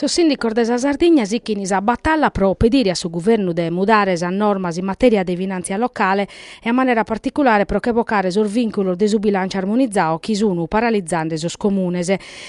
Sos sìndicos de sa Sardigna sichint sa batalla pro pedire a su guvernu de mudare sas normas in matèria de finàntzia locale e a manera particulare pro che bocare sos vìnculos de su bilànciu armonizadu chi sun paralizende sos comunes.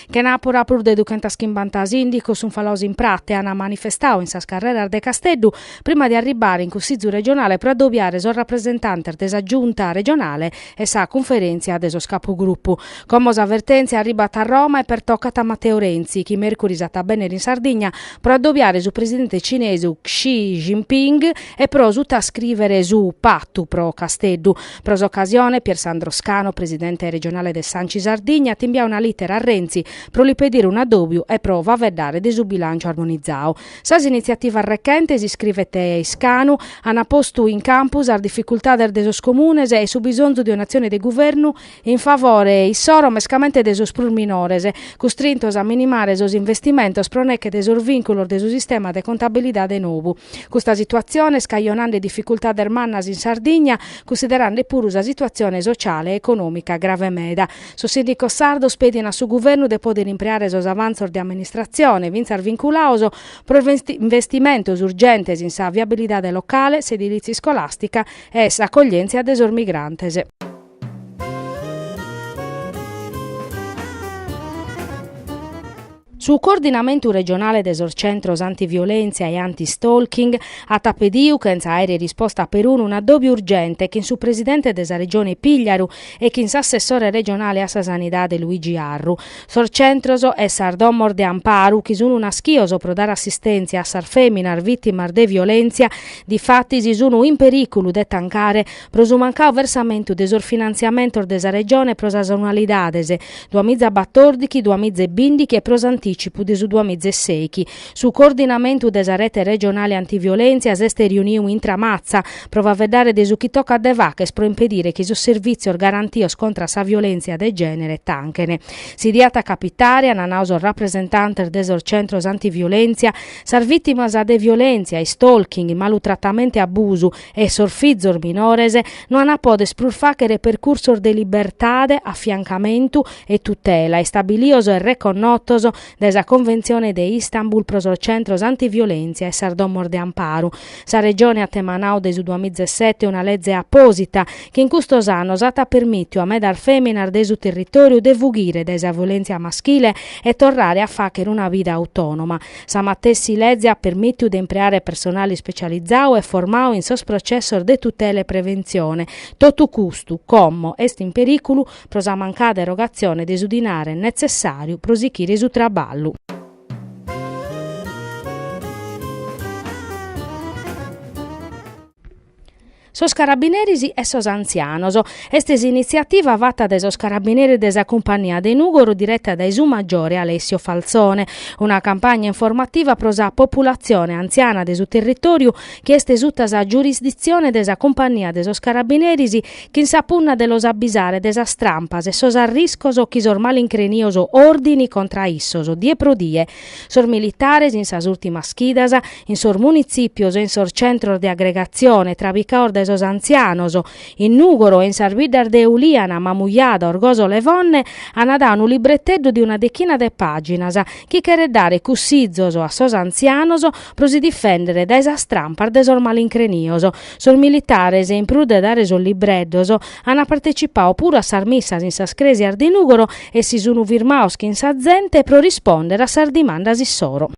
Chenàpura prus de duchentaschimbanta sìndicos sun falados in pratza, ant manifestadu in sas carreras de Casteddu prima de arribbare in Cussìgiu regionale pro adobiare sos rapresentantes de sa Giunta regionale e sa Cunferèntzia de sos Capugrupu. Como sa vertèntzia arribbat a Roma e pertocat a Matteo Renzi, chi mèrcuris at a bènnere in Sardigna pro adobiare su presidente cinesu Xi Jinping e pro sutascrìvere su patu pro Casteddu, Pro s'ocasione, Pier Sandro Scano, presidente regionale de s'Anci Sardigna, at imbiadu una lìtera a Renzi pro li pedire un'addòbiu e pro faeddare de su bilànciu armonizadu. Sas initziativas rechentes, iscrivet Scano, ant postu in campu sas dificultades de sos comunes e su bisonzu de un'atzione de guvernu in favore issoro, mescamente de sos prus minores, custrintos a minimare sos investimentos pro neche de sos vìnculos de su sistema de contabilidade nou. Custa situatzione est cajonende dificultades mannas in Sardigna, cunsiderende puru sa situatzione sociale e econòmica grave meda. Sos sìndicos sardos pedin a su guvernu de pòdere impreare sos avantzos de amministratzione, fintzas vinculados, pro investimentos urgentes in sa viabilidade locale, s'edilìtzia iscolàstica e s'acoglièntzia de sos migrantes. Su Coordinamentu Regionale de sos Centros Antiviolèntzia e Antistalking at pediu, chentza de àere risposta peruna, un'addòbiu urgente chin su presidente de sa Regione Pìgliaru e chin s'assessore regionale a sa Sanidade Luigi Arru. Sos centros e sas domos de amparu chi sunu naschios pro dare assistèntzia a sas fèminas vìtimas de violèntzia difatis sunu in perìculu de tancare, pro su mancadu versamentu de sos finantziamentos de sa Regione pro sas annualidades duas miza e batòrdighi, duas miza e bìndighi e pro s'antìcipu de su duas miza e sèighi. Su coordinamentu de sa Rete Regionale Antiviolèntzia s'est riuniu in Tramatza pro faeddare de su chi tocat de fagher pro impedire chi sos servìtzios garantios contra a sa violèntzia de gènere tanchen. Si diat a capitare, ant nadu sos rapresentantes de sos centros antiviolèntzia, sas vìtimas de violèntzia, stalking, malutratamentu e abusu, e sos fizos minores no ant a poder prus fàghere percursos de libertade, afiancamentu e tutela istabilios e reconnotos dae sa Conventzione de Istanbul pro sos centros antiviolèntzia e sas domos de amparu. Sa Regione at emanadu dae su duas miza e sete una leze apòsita chi in custos annos at permìtiu a medas fèminas de su territòriu de fughire dae sa violèntzia maschile e torrare a fàghere una vida autònoma. Sa matessi lege at permìtiu de impreare personale ispecializau e formau in sos processos de tutela e preventzione, totu custu, como, est in perìculu pro sa mancada erogatzione de su dinare netzessàriu pro sichire su traballu. sos carabineris e sos antzianos. Est s'initziativa fata dae sos carabineris de sa Cumpania de Nùgoro direta dae su maggiore Alessio Falzone, una campagna informativa pro sa populatzione antziana de su territòriu chi est suta sa giurisditzione de sa Cumpania de sos carabineris chin sa punna de los abbisare de sas trampas e sos arriscos chi sos malincrenios òrdinin contra a issos die pro die Sos militares in sas ùrtimas chidas, in sos munitzìpios e in sos centros de agregatzione, trabicaos dae sos antzianos, in Nùgoro e in sas biddas de Ulìana, Mamujada, Orgosolo e Fonne, an dau unu libreteddu de una dechina de pàginas, chi cheret dare cussizos a sos antzianos pro si difèndere dae sas trampas de sos malincrenios, Sos militares, in prus de dare sos libreddos, ant partecipau puru a sas missas in sas crèsias de Nùgoro e si sunt firmaos chin sa zente pro rispòndere a sas dimandas issoro.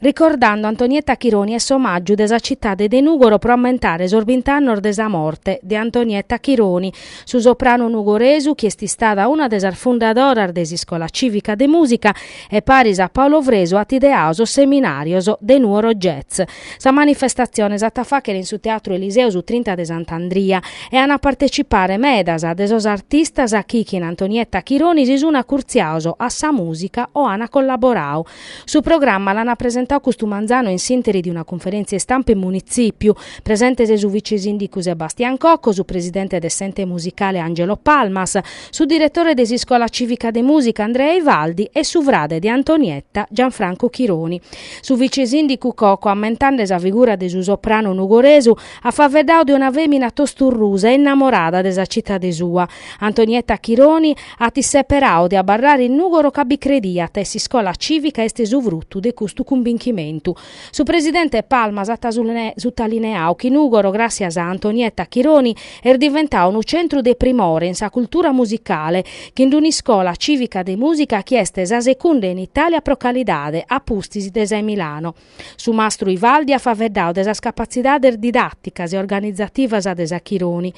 Ricordando Antonietta Chironi est s'omàgiu de sa citade de Nùgoro pro ammentare sos bint'annos de sa morte de Antonietta Chironi, Su sopranu nugoresu chi est istada una de sas fundadoras de s'Iscola Cìvica de Mùsica e paris a Paolo Fresu at ideau sos seminàrios de Nuoro Jazz. Sa manifestatzione s'at a fàchere in su Teatru Eliseo su trinta de Sant'Andria e an a partecipare medas de sos artistas chi chin Antonietta Chironi si sun acurtziaos a sa mùsica o an collaborau Su programma l'an presentau custu manzanu in s'interi de una cunferentzia istampa in munitzipiu. Presentes su vicesindicu Sebastian Cocco, su presidente de s'ente musicale Angelo Palmas, su diretore de s'iscola civica de musica Andrea Ivaldi e su frade de Antonietta Gianfranco Chironi. Su vicesindicu Cocco ammentande sa figura de su sopranu nugoresu at faveddau de una femina tosturrusa e innamorada de sa citade sua. Antonietta Chironi At isseperau de abarrare in Nùgoro ca bi crediat e s'iscola cìvica est su frutu de custu cumbinchimentu. Su presidente Palmas at sutalineau chi Nùgoro, gràssias a Antonietta Chironi, est diventau unu centru de primore in sa cultura musicale, chin d'un'iscola cìvica de mùsica chi est sa secunda in Itàlia pro calidade, a pustis de sa 'e Milano. Su mastru Ivaldi at faveddau de sas capatzidades didàticas e organizativas de sa Chironi.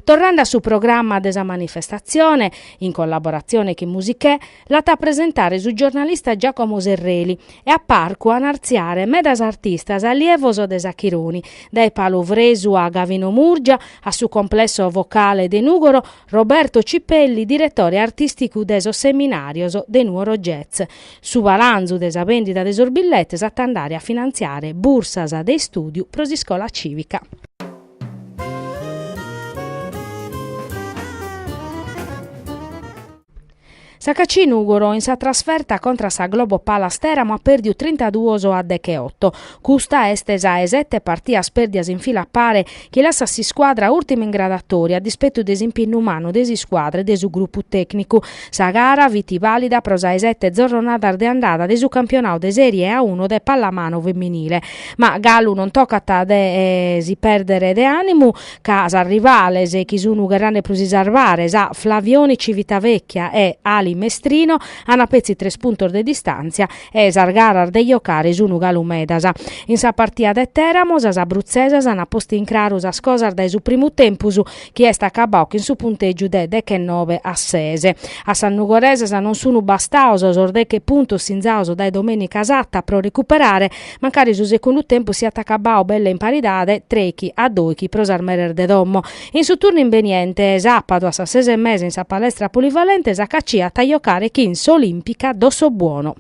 Torrande a su programma de sa manifestatzione, in collaboratzione chin Musichè, l'at a presentare su giornalista Giacomo Serreli e a parcu an a artziare medas artistas allievos de sa Chironi, dae Paolo Fresu a Gavino Murgia, a su Complesso Vocale de Nùgoro, Roberto Cipelli, diretore artìsticu de sos seminàrios de Nuoro Jazz, su balanzu de sa bèndida de sos billetes at a andare a finantziare bursas de istùdiu pro s'iscola cìvica. S'HAC Nùgoro in sa trasferta contra a sa Globo Palas Tèramo at pèrdiu trintaduos a decheoto. Custa est sa 'e sete partias pèrdias in fila pare chi lassat s'iscuadra ùrtima in gradatòria a dispetu de s'impinnu mannu de s'iscuadra e de su grupu tècnicu. Sa gara fit vàlida pro sa 'e sete zorronadas de andada de su campionau de Sèrie A uno de pallamanu feminile. Ma galu non tocat de si pèrdere de ànimu. ca sas rivales, chi sun gherrende pro si sarvare, sa Flavioni Civitavecchia e Ali Mestrino, ant petzi tres puntos de distàntzia e sas garas de jocare sun galu medas. In sa partia de Tèramo sas abrutzesas ant postu in craru sas cosas dae su primu tempus chi est acabau chin su puntègiu de dechennove a ses. A sas nugoresas non sun bastaos sos deche puntos sinzaos dae Domenica Satta pro recuperare Mancari su segundu tempus siat acabau belle in paridade, trechi a dòichi pro sas meres de domo. In su turnu imbeniente, sàpadu a sas ses e mesa in sa palestra polivalente s'HAC at a jocare chin s'Olìmpica Dossobuono.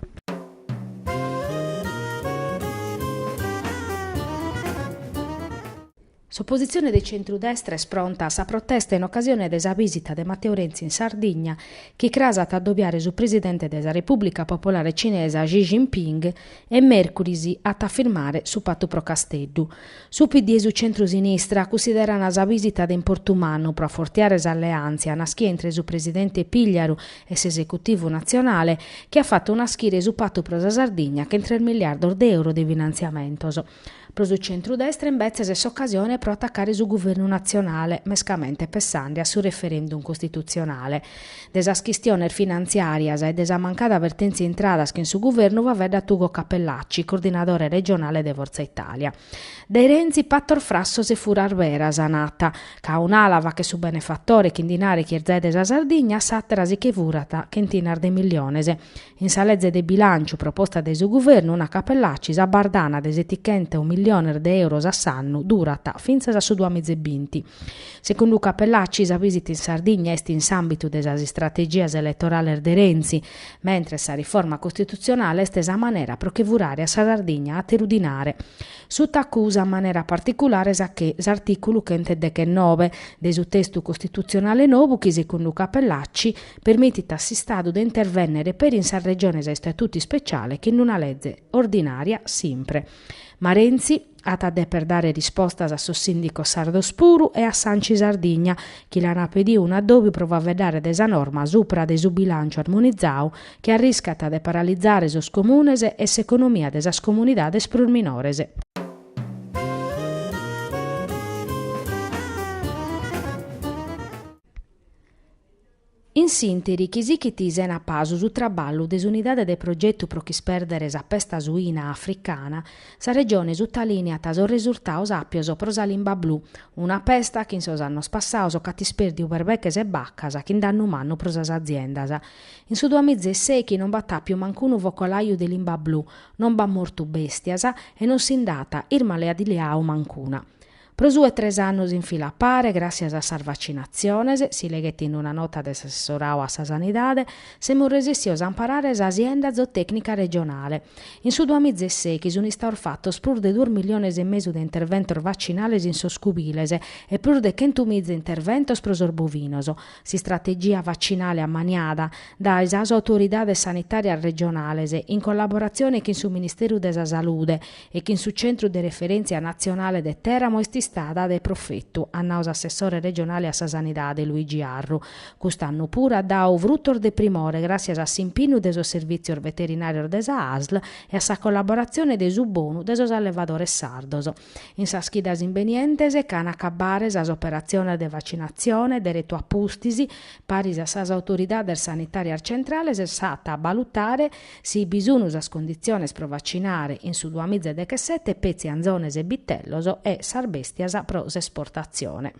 S'opositzione de centru-destra est pronta a sa protesta in ocasione de sa bìsita de Matteo Renzi in Sardigna, chi cras at a adobiare su presidente de sa Repùblica Popolare Cinesa Xi Jinping e mèrcuris at a firmare su patu pro Casteddu. Su PD e su centru-sinistra cussideran sa bìsita de importu mannu pro afortiare s'alleàntzia nàschia intre su presidente Pigliaru e s'esecutivu natzionale, chi at fatu naschire su patu pro sa Sardigna chin tres miliardos de euro de finantziamentos. Pro su centru-destra imbetzes est s'ocasione pro atacare su guvernu natzionale, mescamente pessende a su referendum costitutzionale. De sas chistiones finantziàrias e de sa mancada vertèntzia intradas chin su guvernu faeddat Ugo Cappellacci, coordinadore regionale de Fortza Italia. Dae Renzi patos frassos e furas beras, nat, ca a un'ala faghet su benefatore chin dinare chi est zai de sa Sardigna, a s'àtera si che furat chentinas de milliones. In sa lege de bilànciu proposta dae su Guvernu nat Cappellacci sa bardana de setichentos milliones de euros a s'annu durat fintzas a su duamiza e binti. Segundu Cappellacci sa vìsita in Sardigna est in s'àmbitu de sas istrategias eletorales de Renzi, mentres sa riforma costitutzionale est sa manera pro che furare a sa Sardigna àteru dinare. Suta acusa a manera particulare sa che s'artìculu chentedechennove de su testu costitutzionale nou chi segundu Cappellacci permitit a s'Istadu de intervènnere peri in sas Regiones a istatutu ispeciale chin una leze ordinària simpre. Ma Renzi at a deper dare rispostas a sos sìndicos sardos puru e a s'Anci Sardigna chi l'an pediu un'addòbiu pro faveddare de sa norma supra de su bilànciu armonizadu chi arriscat de paralizare sos Comunes e s'economia de sas comunidades prus minores. In s'interi chi sichit sena pasu su traballu de s'Unidade de Progetu pro ch'ispèrdere sa pesta suina africana, sa Regione sutalìniat sos resurtaos àpios pro sa limba blu, una pesta chi in sos annos passaos ch'at ispèrdiu perbeches e bacas chin dannu mannu pro sas aziendas. In su duamiza e sèichi non b'at àpiu manc'unu focolàiu de limba blu, non b'at mortu bèstias e non si nd'at irmaleadiau mancuna. Pro su 'e tres annos in fila a pare, gràssias a sas vacinatziones, si leghet in una nota de s'assessorau a sa Sanidade, semus resessios a amparare sa sienda zootècnica regionale. In su duamiza e sèichi sunt istaos fatos prus de duos milliones e mesu de interventos vacinales in sos cubiles e prus de chentu miza interventos pro sos bovinos. S'istrategia vacinale ammaniada dae sas autoridades sanitàrias regionales, in collaboratzione chin su Ministèriu de sa Salude, e chin su Centru de Referèntzia Natzionale de Tèramo est istada de profetu, at nau s'assessore regionale a sa Sanidade, Luigi Arru. Cust'annu puru at dau frutos de primore gràssias a s'impinnu de sos servìtzios veterinàrios de sa asl e a sa collaboratzione de su bonu de sos allevadores sardos. In sas chidas imbenientes ch'an a acabbare sas operatziones de vacinatzione, deretu a pustis, paris a sas autoridades sanitàrias centrales s'at a balutare, Si bi sunu sas conditziones pro vacinare in su duamiza e dechesete petzi anzones e bitellos e sas bèstias pro s'esportatzione.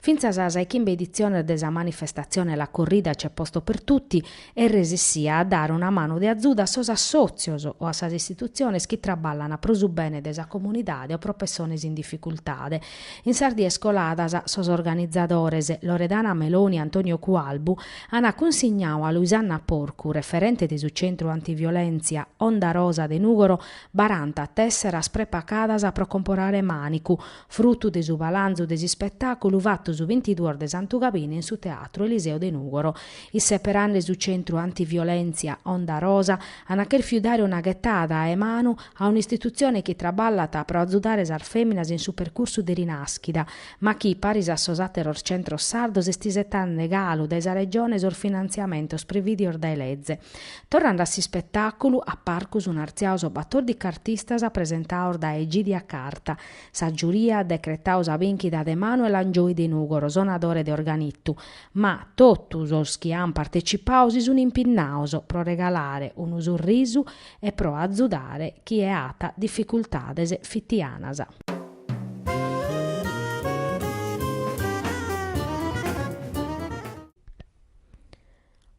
Fintzas a sa 'e chimbe editzione de sa manifestatzione La Corrida c'è posto per tutti est resissia a dare una manu de azudu a sos assòtzios o a sas istitutziones chi traballan pro su bene de sa comunidade o pro pessones in dificultade. In sas dies coladas, sos organizadores, Loredana Meloni e Antonio Cualbu, ant cunsignau a Luisanna Porcu, referente de su Centru Antiviolèntzia Onda Rosa de Nùgoro, baranta tèsseras prepacadas pro comporare mànicu, Frutu de su balanzu de s'ispetàculu fatu su bintiduos de Santu Gabine in su Teatru Eliseo de Nùgoro, isseperande su centru antiviolèntzia Onda Rosa, ant chèrfiu dare una ghetada 'e manu a un'istitutzione chi traballat pro azudare sas fèminas in su percursu de rinàschida, ma chi, paris a sos àteros centros sardos, est isetande galu dae sa Regione sos finantziamentos previdios dae sa leze. Torrande a s'ispetàculu, a parcu sun artziaos batòrdichi artistas presentaos dae Egidia Carta, Sa giuria at decretadu sa bìnchida de Manuel Angioi de Nùgoro, sonadore de organitu, ma totu sos chi ant partecipadu si sunt impinnados pro regalare unu surrisu e pro azudare chie at dificultades fitianas.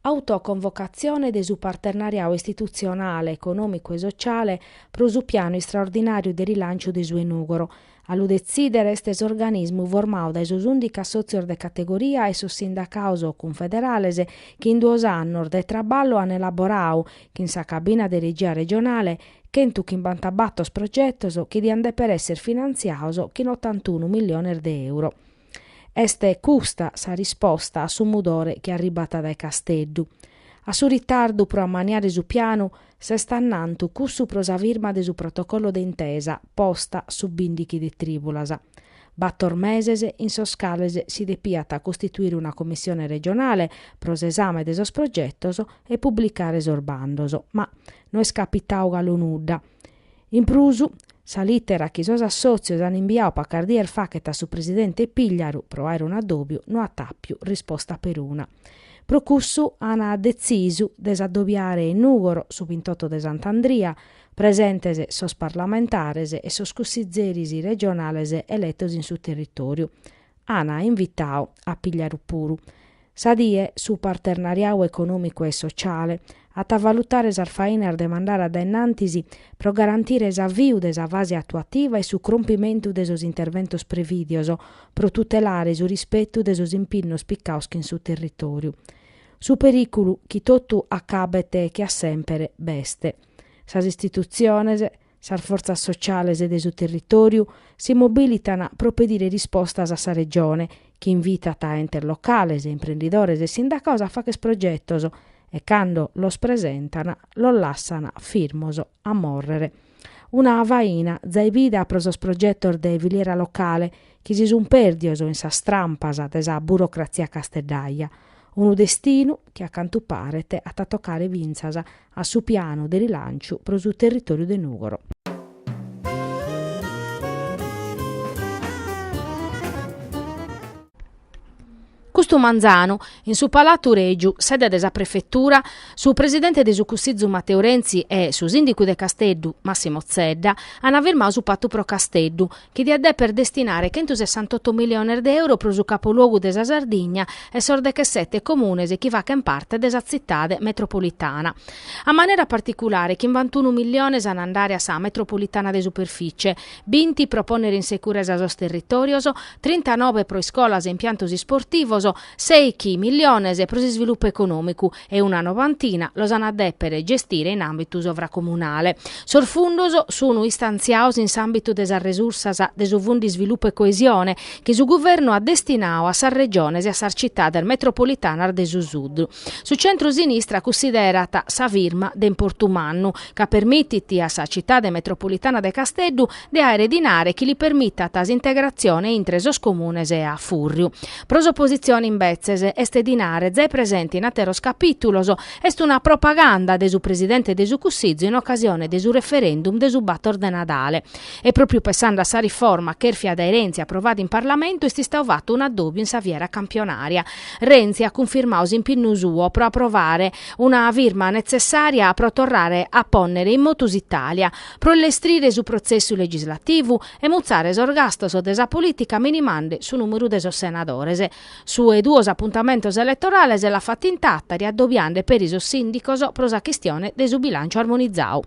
Autoconvocatzione de su parternariadu istitutzionale, econòmicu e sotziale pro su pianu istraordinàriu de rilànciu de su 'e Nùgoro. A lu detzìdere est s'organismu formadu dae sos ùndichi assòtzios de categoria e sos sindacados cunfederales chi in duos annos de traballu ant elaboradu, chin sa cabina de regia regionale, chentu chimbantabatos progetos chi diant dèpere èssere finantziados chin otantunu milliones de euro. Est custa sa risposta a su mudore chi arribat dae Casteddu. A su ritardu pro ammaniare su pianu s'est annantu cussu pro sa firma de su protocollo de intesa posta su bindighi de trìbulas. Bator meses in sos cales si depiat costituire una commissione regionale pro s'esame de sos progetos e publicare sos bandos, ma no est capitadu galu nudda. In prus, sa lìtera chi sos assòtzios ant imbiadu pacas dies faghet a su presidente Pigliaru pro àere un'adòbiu no at àpiu risposta peruna. Pro cussu an detzisu de s'adòbiare in Nùgoro su bintoto de Sant'Andria, presentes sos parlamentares e sos cussitzeris regionales eletos in su territòriu. An invitadu a Pigliaru puru. Sa die, su parternariau econòmicu e sociale at a valutare sas fainas de mandare a dae innantis pro garantire s'aviu de sa fase atuativa e su crompimentu de sos interventos prevìdios pro tutelare su rispetu de sos impinnos picados chin su territòriu. Su perìculu chi totu acabet che a semper b'est. Sas istitutziones, Sas fortzas sociales de su territòriu si mobilitan pro pedire rispostas a sa Regione, chi invitant entes locales, imprendidores e sindacados a fagher progetos e cando los presentan los lassan firmos a mòrrere. Una faina zai bida pro sos progetos de filiera locale chi si sun pèrdios in sas trampas de sa burocratzia casteddaja, unu destinu chi a cantu paret at a tocare fintzas a su pianu de rilanciu pro su territòriu de Nùgoro. Custu manzanu, in su Palatu Règiu, sede de sa Prefetura, su presidente de su Cussizu Matteo Renzi e su sìndicu de Casteddu, Massimo Zedda, ant firmadu su Patu pro Casteddu, chi diat dèpere destinare chentusessantotto miliones de euro pro su capoluogu de sa Sardigna e sos dechesete comunes chi fachent parte de sa Tzitade metropolitana. In manera particulare, chimbantunu miliones an a andare a sa metropolitana de superficie, binti pro pònnere in securesa sos territòrios, trintanobe pro iscolas e impiantos isportivos, sèichi miliones pro s'isvilupu econòmicu e una novantina los an a dèpere gestire in àmbitu sovracomunale. Sos fundos sunu istantziados in s'àmbitu de sas resursas de su Fundu Isvilupu e Coesione chi su Guvernu at destinadu a sas Regiones e a sas Citades metropolitanas de su Sud. Su centru-sinistra cunsiderat sa firma de importu mannu, ca permitit a sa Citade metropolitana de Casteddu de àere dinare chi li permitant s'integratzione intre sos comunes a fùrriu. Pro s'opositzione imbetzes, est dinare zai presente in àteros capìtulos, est una propaganda de su presidente de su Cussìgiu in ocasione de su referendum de su bator de Nadale. E pròpiu pessande a sa riforma chèrfia dae Renzi aprovada in Parlamentu est istadu fatu unu addòbiu in sa fiera campionària. Renzi at cunfirmadu s'impinnu suo pro aprovare una firma netzessària pro torrare a pònnere in motu s'Itàlia, pro lestrire su protzessu legislativu e mutzare sos gastos de sa polìtica minimande su nùmeru de sos senadores. Su 'e duos apuntamentos eletorales l'at fatu in Tàtari addobiande peri sos sìndicos pro sa chistione de su bilànciu armonizadu.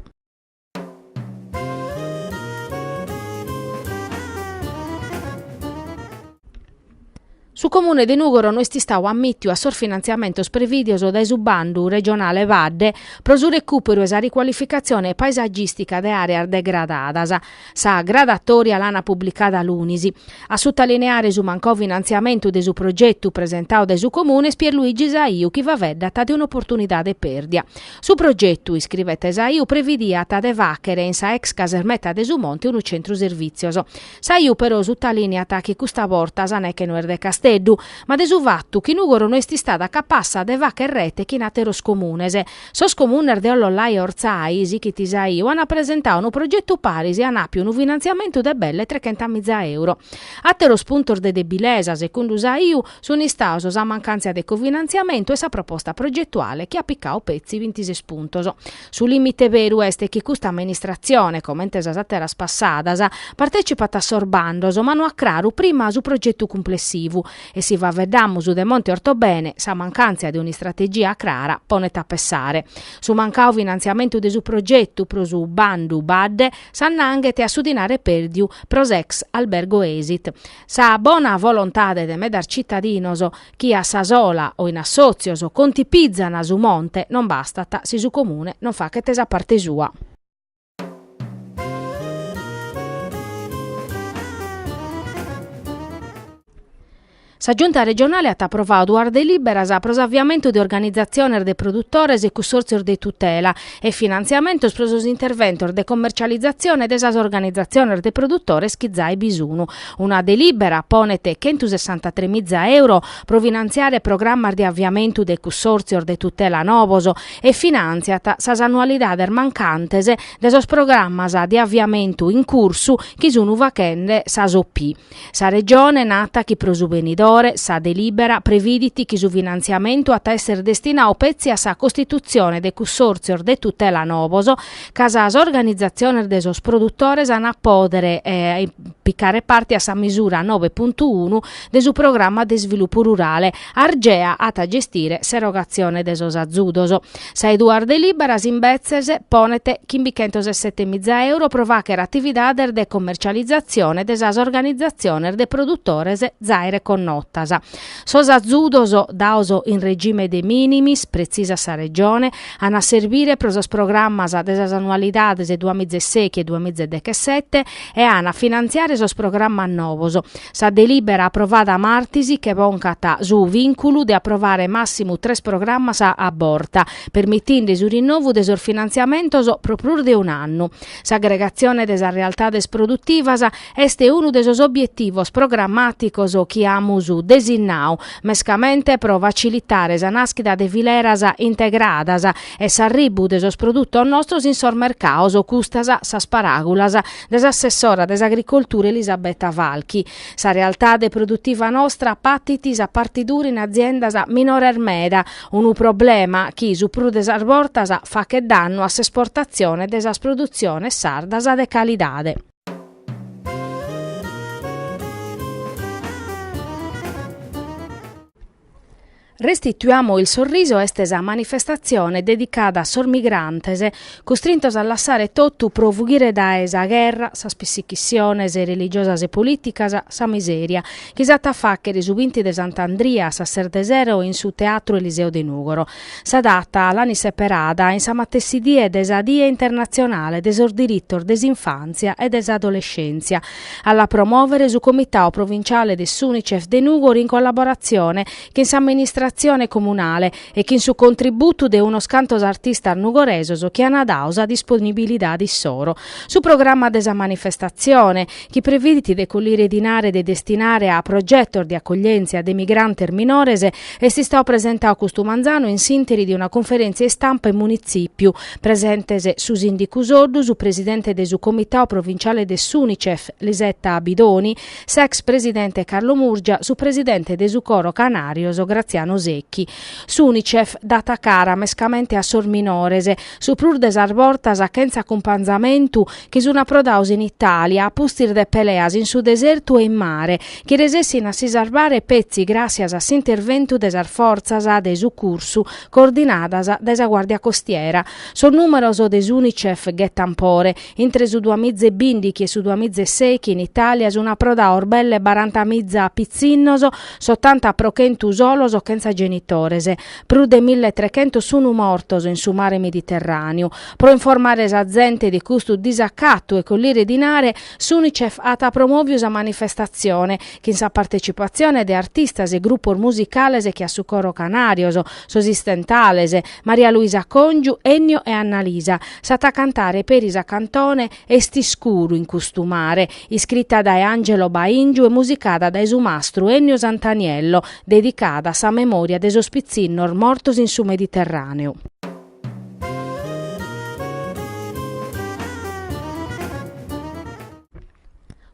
Su Comune de Nùgoro no est istadu ammìtiu a sos finantziamentos prevìdios dae su bandu regionale Baddhe pro su recùperu e sa ricualificatzione paesagìstica de àreas degradadas. Sa gradatòria l'ana publicada lunis. A sutalineare su mancau finantziamentu de su progetu presentadu dae su Comune est Pierluigi Saiu chi faeddat de un'oportunidade pèrdia. Su progetu, iscrivet Saiu, previdiat de fàghere in sa ex casermeta de su Monte unu centru servìtzios. Saiu però sutalìniat chi custa borta sa neche no est de Casteddu, ma de su fatu chi Nùgoro no est istada capassa de fàghere rete chin àteros comunes. Sos comunes de Ollolai e Ortzai, sighit Saiu, ant presentadu unu progetu paris e ant àpiu unu finantziamentu de belle trechentamìza euro. Àteros puntos de debilesa, segundu Saiu, sunt istados sa mancàntzia de cofinantziamentu e sa proposta progetuale chi at picadu petzi bintises puntos. Su lìmite beru est chi custa amministratzione, comente sas àteras passadas, partètzipat a sos bandos ma no at craru prima su progetu cumplessivu e si faeddamus de Monte Ortobene, sa mancàntzia de un'istrategia crara ponet a pessare. Su mancadu finantziamentu de su progetu pro su bandu Baddhe s'annanghet a su dinare pèrdiu pro s'ex albergo Esit. Sa bona volontade de medas citadinos chi a sa sola o in assòtzios contipizzan su monte non bastat si su Comune non faghet sa parte sua. Sa Giunta regionale at aprovadu duas delìberas pro s'aviamentu de organizatziones de produtores e cussòrtzios de tutela e finantziamentos pro sos interventos de commercializatzione de sas organizatziones de produtores chi zai bi sun Una delibera ponet chentu sessantatrè miza euro pro finantziare programmas de aviamentu de cussòrtzios de tutela novos e finantziat sas annualidades mancantes de sos programmas de aviamentu in cursu chi sun faghende sas OP. Sa Regione nat chi pro su benidore sa delibera previdit chi su finantziamentu at a esser destinadu petzi a sa costitutzione de cussòrtzios de tutela novos ca sas organizatziones de sos produtores an a pòdere picare parte a sa misura nobe puntu unu de su programma de isvilupu rurale, Argea at a gestire s'erogatzione de sos azudos. Sa 'e duas delìberas imbetzes ponet chimbichentos e sete miza euro pro fàghere atividades de commercializatzione de sas organizatziones de produtores zai reconnotas. Sos azudos dados in regime de minimis, pretzisat sa Regione, An a serbire pro sos programmas de sas annualidades duamiza e sèghi e duamiza e dechesete e an a finantziare sos programmas novos sa delìbera aprovada martis che bocat su vìnculu de aprovare màssimu tres programmas a borta, permitinde su rinnovu de sos finantziamentos pro prus de un'annu. S'agregatzione de sas realtades produtivas est unu de sos obietivos programàticos chi amus desinnadu mescamente pro facilitare sa nàschida de fileras integradas e s'arribu de sos produtos nostros in sos mercados, custas sas paràgulas de s'assessora de s'Agricoltura Elisabetta Falchi. Sa realtade produtiva nostra patit sa partidura in aziendas minores meda, unu problema chi su prus de sas bortas faghet dannu a s'esportatzione de sas produtziones sardas de calidade. Restituiamo il sorriso est sa manifestatzione dedicada a sos migrantes custrintos a lassare totu pro fughire dae sa gherra, sas pissichissiones religiosas e polìticas, sa misèria, chi s'at a fàghere su binti de Sant'Andria a sas ses de sero in su Teatru Eliseo de Nùgoro. Sa data l'ant seperada in sa matessi die de sa Die internatzionale de sos diritos de s'infàntzia e de s'adolescèntzia. A la promòvere su Comitadu Provinciale de s'Unicef de Nùgoro in collaboratzione chin s'amministratzione comunale e chin su contributu de unos cantos artistas nugoresos chi ant dadu sa disponibilidade issoro. Su programma de sa manifestatzione, chi previdit de collire dinare de destinare a progetos de acoglièntzia de migrantes minores, est istadu presentadu custu manzanu in s'interi de una conferèntzia istampa in Munitzìpiu, presentes su sìndicu Soddu, su presidente de su Comitadu Provinciale de s'Unicef, Lisetta Bidoni, s'ex presidente Carlo Murgia, su presidente de su Coro Sos Canàrios, Graziano Secchi. S'Unicef dat cara mescamente a sos minores, su prus de sas bortas chentza acumpanzamentu, chi sun approdados in Italia, a pustis de peleas in su desertu e in mare, chi resessin a si sarvare petzi gràtzias a s'interventu de sas fortzas de sucursu coordinadas dae sa Guàrdia Costiera. Sos nùmeros de s'Unicef ghetan pore, intre su duas miza e bìndighi e su duas miza e sèichi in Italia sun approdados belle baranta miza pitzinnos, s'otanta pro chentu solos chentza genitores. prus de milletrechentos sunu mortos in su mare Mediterràneu. Pro informare sa zente de custu disacatu e collire dinare, s'Unicef at promòviu sa manifestatzione, chin sa partetzipatzione de artistas e grupos musicales che a su coro Canàrios, sos Istentales, Maria Luisa Còngiu, Ennio e Annalisa, s'at a cantare peri sa cantone, Est iscuru in custu mare, iscrita dae Angelo Baingiu e musicada dae su mastru Ennio Santaniello, dedicada a sa memòria de sos pitzinnos mortos in su Mediterràneu.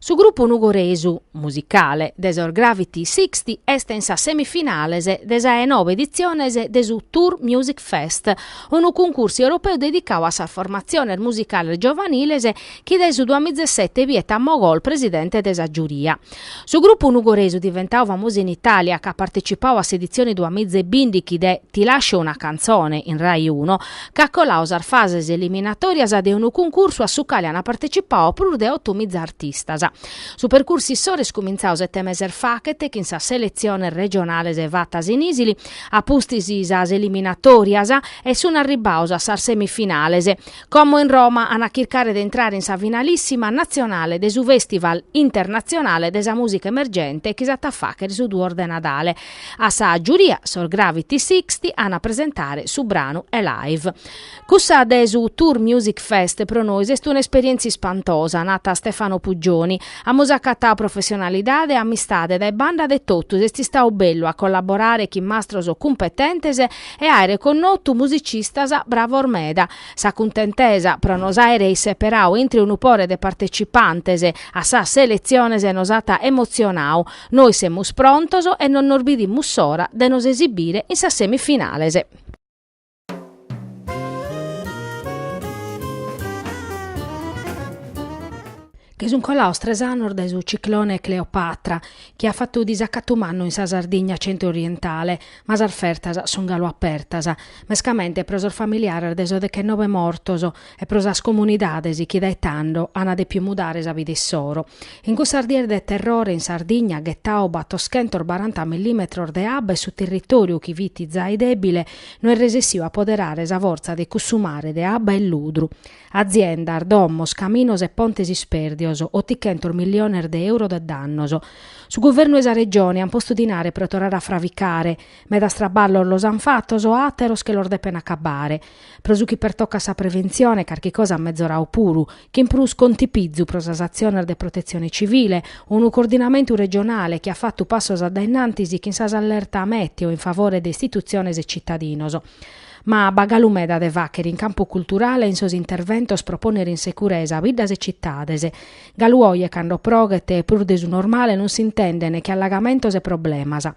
Su grupu nugoresu, musicale, de sos Gravity Sixty est in sas semifinales de sa de nobe editziones de su Tour Music Fest, unu cuncursu europeu dedicadu a sas formatziones musicales giovaniles chi dae su duamizesete biet a Mogol presidente de sa giuria. Su grupu nugoresu diventadu famosu in Itàlia e chi at partecipadu a s'editzione duamizebìndighi de Ti lascio una canzone in Rai Uno, at coladu sas fases eliminatòrias de unu cuncursu a su cale ant partecipadu prus de otomiza artistas. Su percursu issoro est cumintzadu sete meses faghet chin sas seletziones regionales fatas in Isili, a pustis sas eliminatòrias e sunt arribbados a sas semifinales, como in Roma an a chircare de intrare in sa finalissima natzionale de su Festival internatzionale de sa mùsica emergente chi s'at a fàghere su duos de Nadale. A sa giuria sos Gravity Sixty an a presentare su branu Alive. Cussa de su Tour Music Fest pro nois est un'esperièntzia ispantosa, nat Stefano Puggioni. Amus acatadu professionalidade e amistade dae banda de totus, est istadu bellu a collaborare chin mastros cumpetentes e àere connotu musicistas bravos meda. Sa cuntentesa pro nos àere isseperadu intre unu pore de partecipantes a sas seletziones nos at emotzionadu, Nois semus prontos e non nos bidimus s'ora de nos esibire in sas semifinales. Che sunt colados tres annos dae su ciclone Cleopatra, chi at fatu disacatu mannu in sa Sardigna centro-orientale, ma sas fertas sunt galu apertas, mescamente pro sos familiares de sos dechennove mortos, e pro sas comunidades chi dae tando an depiu mudare sa vida issoro. In cussas dies de terrore in Sardigna ghetau b'at oschentos baranta millimetros de abba e su territoriu chi fit zai debile no est resessiu a poderare sa forza de cussu mare de abba e ludru. Aziendas, domos, caminos e pontes isperdios, otighentos milliones de euro de dannos. Su guvernu e sa Regione an postu dinare pro torrare a fravicare. Medas traballos los an fatos, ateros che los depen acabare. Pro su chi pertocat sa preventzione, carchi cosa est metzoradu puru, chin prus contipizu pro sas atziones de protetzione civile, unu coordinamentu regionale chi at fatu passos a dae innantis chin sas allerta mèteo in favore de istitutziones e tzitadinos. Ma b'at galu meda de fàghere in campu culturale e in sos interventos pro pònnere in securesa biddas e citades. Galu oje cando proghet prus de su normale non s'intenden che allagamentos e problemas.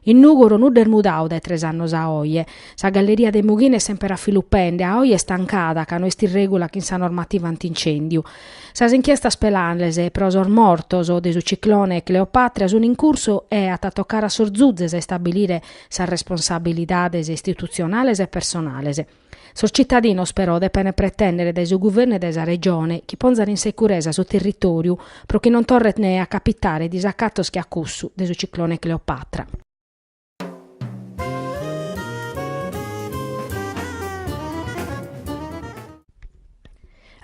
In Nùgoro nudda est mudadu dae tres annos a oe. Sa galleria de Mughina est semper a filu pende, a oe est tancada ca no est in règula chin sa normativa anti-incèndiu. Sas inchiestas penales pro sos mortos de su ciclone Cleopatra sunt in cursu e at a tocare a sos zuzes a istabilire sas responsabilidades istitutzionales e personales. Sos citadinos però depent pretèndere dae su guvernu e dae sa Regione chi ponzat in securesa su territòriu pro chi non torrent a capitare disacatos che a cussu de su ciclone Cleopatra.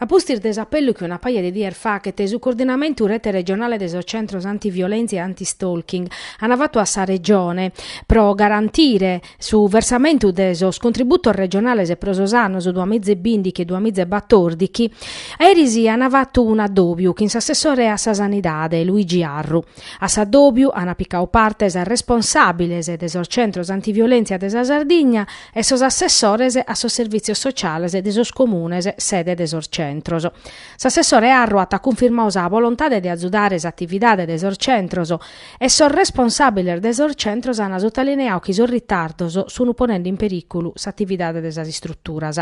A pustis de s'apellu chi una paja de dies faghet su Coordinamentu Rete Regionale de sos Centros Antiviolèntzia e Antistalking, an fatu a sa Regione, pro garantire su versamentu de sos contributos regionales pro sos annos duas mìgia e bìndighi e duas mìgia e batòrdighi, eris an fatu un'adòbiu chin s'assessore a sa Sanidade, Luigi Arru. A s'adòbiu an picadu parte sas responsàbiles de sos Centros Antiviolèntzia de sa Sardigna, e sos assessores a sos servìtzios sociales de sos comunes sede de sos centros. S'assessore Arru at cunfirmadu sa bolontade de azudare s'atividade de sos centros e sos responsàbiles de sos centros ant sotalineadu chi sos ritardos sunt ponende in perìculu s'atividade de sas istruturas.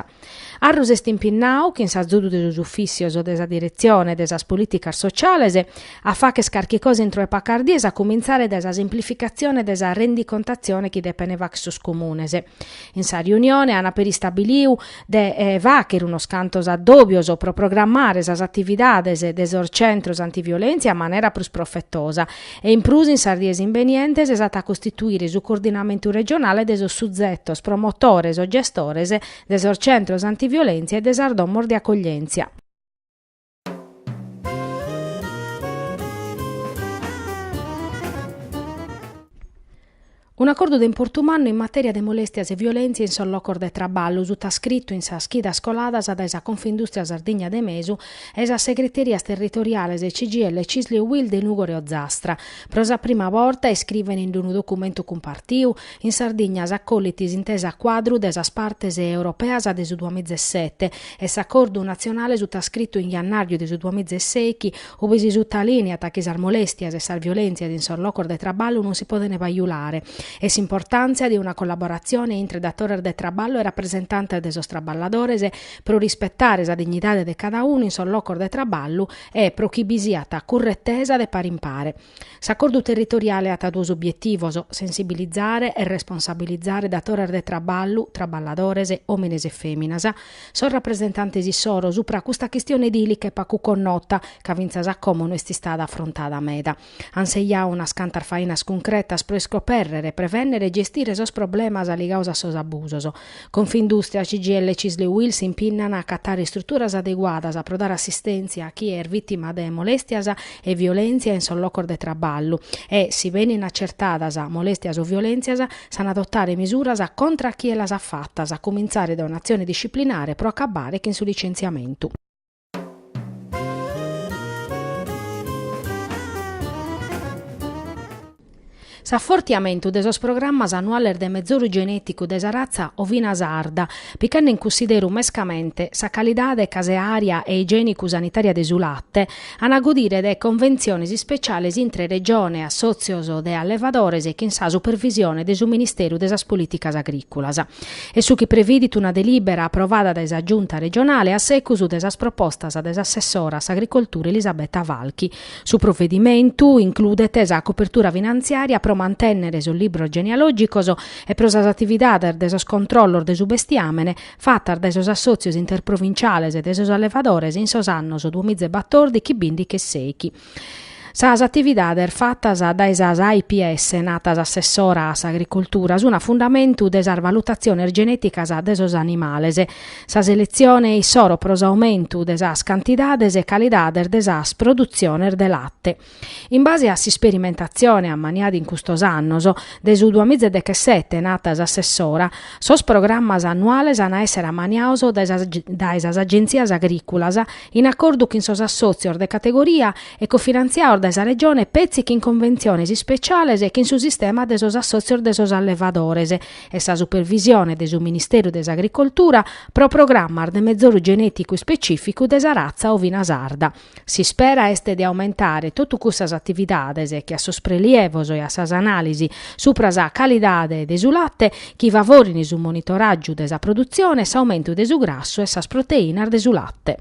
Arru s'est impinnadu chin s'azudu de sos ufìssios de sa diretzione de sas polìticas sociales a fagher carchi cosa intro 'e pacas dies a cumintzare dae sa semplificatzione de sa rendicontatzione chi depene fagher sos comunes. In sa riunione an peri istabilidu de fagher unos cantos addòbios pro programmare sas atividades de sos centros antiviolèntzia a manera prus profetosa e in prus in sas dies imbenientes s'at a costituire su coordinamentu regionale de sos suzetos promotores o gestores de sos centros antiviolèntzia e de sas domos de acoglièntzia. Un'acordu de importu mannu in matèria de molèstias e violèntzia in sos locos de traballu, sutascritu in sas chidas coladas dae sa Confindùstria Sardigna de Mesu e sas segreterias territoriales CGIL Cisl e UIL de Nùgoro e Ozastra. Pro sa prima borta, iscrivent in unu documentu cumpartiu, in Sardigna s'acollit s'intesa cuadru de sas partes europeas de su duamiza e sete e s'acordu natzionale sutascritu in jannàrriu de su duamiza e sèighi, Ubi si sutalìniat chi sas molèstias e sas violèntzias in sos locos de traballu non si podent pajulare e s'importàntzia de una collaboratzione intre datores de traballu e rapresentantes de sos traballadores pro rispetare sa dignidade de cada unu in sos locos de traballu e pro chi bi siat curretesa de pare in pare. S'acordu territoriale at duos obietivos, sensibilizare e responsabilizare datores de traballu, traballadores, òmines e fèminas, sos rapresentantes issoro supra custa chistione dìlica e pagu connota, ca finas a como no est istada afrontada meda. Ant sejadu unas cantas fainas cuncretas pro iscopèrrere, prevènnere e gestire sos problemas ligados a sos abusos, Confindustria, CGIL, Cisl e UIL s'impinnant a acatare istruturas adeguadas pro dare assistèntzia a chie est vìtima de molèstias e violèntzia in sos locos de traballu e, si benint acertadas molèstias o violèntzias, s'ant a adotare misuras contra a chie las at fatas, a cumintzare dae un'atzione disciplinare pro acabbare chin su licentziamentu. S'afortiamentu de sos programmas annuales de mezoru genèticu de sa ratza ovina sarda, pichende in cunsideru mescamente sa calidade caseària e igiènicu-sanitària de su late, ant a godire de conventziones ispeciales intre Regione, assòtzios de allevadores e chin sa supervisione de su Ministeru de sas Polìticas Agrìculas. est su chi previdit una delìbera aprovada dae sa Giunta regionale a secus de sas propostas de s'assessora a s'agricoltura Elisabetta Falchi. Su provedimentu includet sa copertura finantziària pro mantènnere sos libros genealògicos e pro sas atividades de sos controllos de su bestiàmene fatas dae sos assòtzios interprovinciales de sos allevadores in sos annos duamiza e batordighi, bìndighi e sèighi. Sas atividades fatas dae sas AIPA, narat s'Assessora a s'Agricultura, sun a fundamentu de sas valutatziones genèticas de sos animales. Sa seletzione issoro pro s'aumentu de sas cantidades e calidades de sas produtziones de late. In base a s'isperimentatzione ammaniada in custos annos, dae su duamiza e dechesete, narat s'Assessora, sos programmas annuales an a èssere ammaniados dae sas agentzias agrìculas in acordu chin sos assòtzios de categoria e cofinantziados dae sa Regione peri chin conventziones ispeciales chin su sistema de sos assòtzios de sos allevadores e sa supervisione de su Ministeru de s'Agricoltura pro programmas de mezoru genèticu ispecìficu de sa ratza ovina sarda. S'ispera est de aumentare totu cussas atividades chin a sos prelievos e a sas anàlisi supra sa calidade de su late chi favorin su monitoràgiu de sa produtzione e s'aumentu de su grassu e sas proteìnas de su late.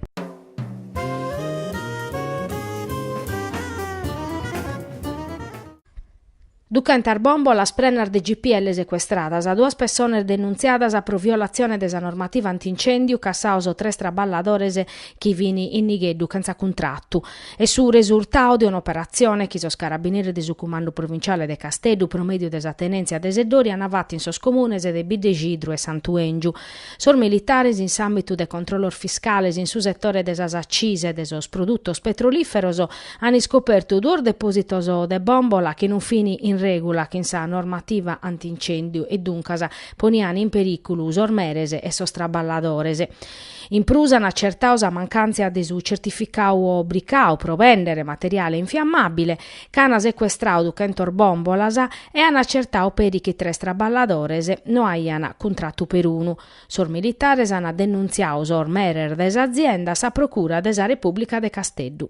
Duchentas bòmbolas prenas de GPL secuestradas, duas pessones denuntziadas pro violatzione de sa normativa anti-incèndiu, cassados tres traballadores chi fin in nigheddu chentza cuntratu. Est su resurtau de un'operatzione chi sos Carabineris de su Cumandu Provinciale de Casteddu, pro mèdiu de sa tenèntzia de Seddori, ant fatu in sos comunes de Biddexidru e Santu Èngiu. Sos militares in s'àmbitu de controllos fiscales in su setore de sas accisas e de sos produtos petrolìferos ant iscopertu duos depòsitos de bòmbola chi non fin in règula chin sa normativa anti-incèndiu e duncas ponian in perìculu sos meres e sos traballadores. In prus an acertau sa mancàntzia de su certificau obricau pro bèndere materiale infiammàbile, ca an secuestrau duchentos bòmbolas e an acertau peri chi tres traballadores no aiant cuntratu perunu. Sos militares an denuntziau sos meres de s'azienda a sa Procura de sa Repùblica de Casteddu.